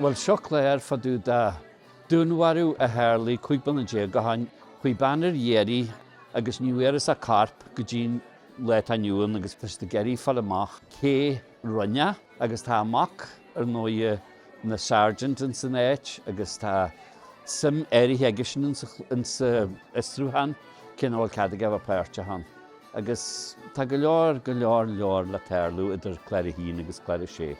Bhuel seo clár faoi dtaobh de. Dúnmharú a tharlaigh 15 bliana déag ó shin chuaigh bean ar iarraidh agus ní bhfuaireas a corp go dtí'n lá atá inniu ann agus tá siad ag iarraidh fáil amach cé rinne agus tá a mac ar ndóighe ina sergeant ins an áit agus tá suim áirithe aigesean ins an fhiosrúchán cé nach bhfuil cead aige a bheith páirteach ann. Agus tá go leor, go leor, leor le tarlú idir Clár a hAon agus Clár a Sé.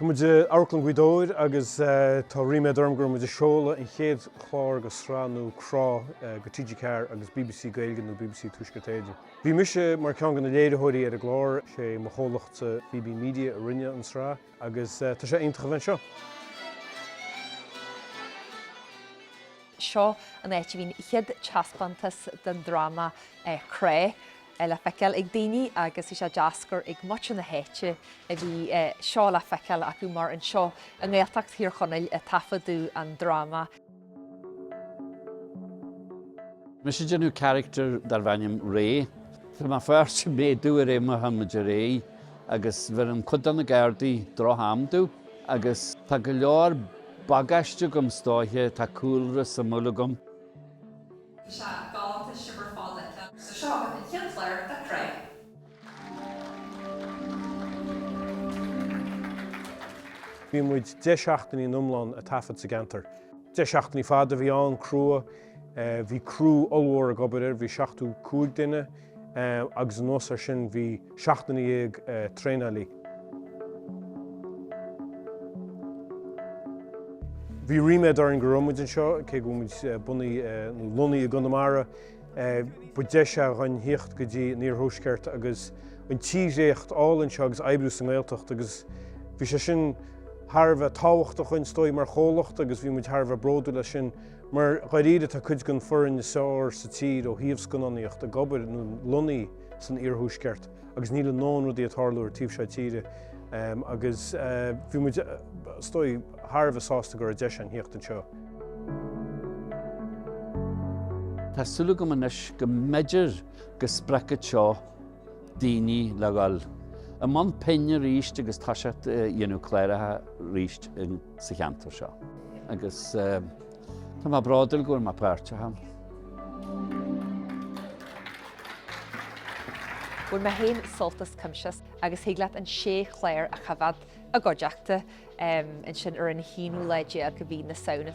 Tá muid i Amharclann Ghaoth Dobhair agus tá ríméad orm go raibh muid ag seoladh an chéad chlár dhen tsraith nua Crá do TG4 agus bbc Gaeilge nó bbc Tuaisceart Éireann. Bhí mise mar ceann de na léiritheoirí ar an gclár, sé mo chomhlacht Fíbín Media a rinne an sraith agus tá sé iontach a bheith anseo. Seo an áit a bhí an chéad teaspántas den dráma Crá le feiceáil ag daoine agus bhí sé deas gur ag muintir na háite a bhí seo le feiceáil acu mar anseo i nGaeltacht Thír Chonaill a taifeadadh an dráma. Bhí mise ag déanamh caractar darbh ainm Ray. Tá mo pháirt ag méadú i rith m'ama atá mar Ray agus bheireann cuid de na gardaí droch-am domh agus tá go leor. bagáiste agam is dóiche, tá cúlra suimiúil agam. Is ea, dánta shaibhir fada le. So seo agaibh an chéad chlár de Crá. Bhí muid deich seachtainí in iomlán ag taifead sa gceantar. Deich seachtainí fada a bhí ann, crua. Bhí criú ollmhór ag obair air, bhí 75 duine. agus anuas air sin bhí seacht nduine dhéag traenálaí. Bhí ríméad orainn go raibh muid anseo, cé go bhfuil muid bunaithe nó lonnaithe i gConamara. Ba deis é dhúinn theacht go dtí an iarthuaisceart agus an tírdhreacht álainn seo agus oibriú sa nGaeltacht agus bhí sé sin thar a bheith tábhachtach dhúinn, is dóigh, mar chomhlacht agus bhí muid thar a bheith bródúil as sin. Mar dáiríre, tá cuid den foireann is fearr sa tír ó thaobh scannánaíocht ag obair, nó lonnaithe, san iarthuaisceart agus níl a ndóthain rudaí ag tarlú ar an taobh seo tíre agus bhí muid, is dóigh, thar a bheith sásta go raibh deis ann theacht anseo. Tá súil agam anois go mb'fhéidir go spreagfadh seo daoine le dhul i mbun pinn arís agus toiseacht ag déanamh cláracha arís. sa cheantar seo. Agus tá mé bródúil go bhfuil mé páirteach ann. Bhain mé féin sult as Coimsias agus thig leat an sé chlár a choimhéad i gcuideachta ansin ar an haonú lá déag mhí na Samhna.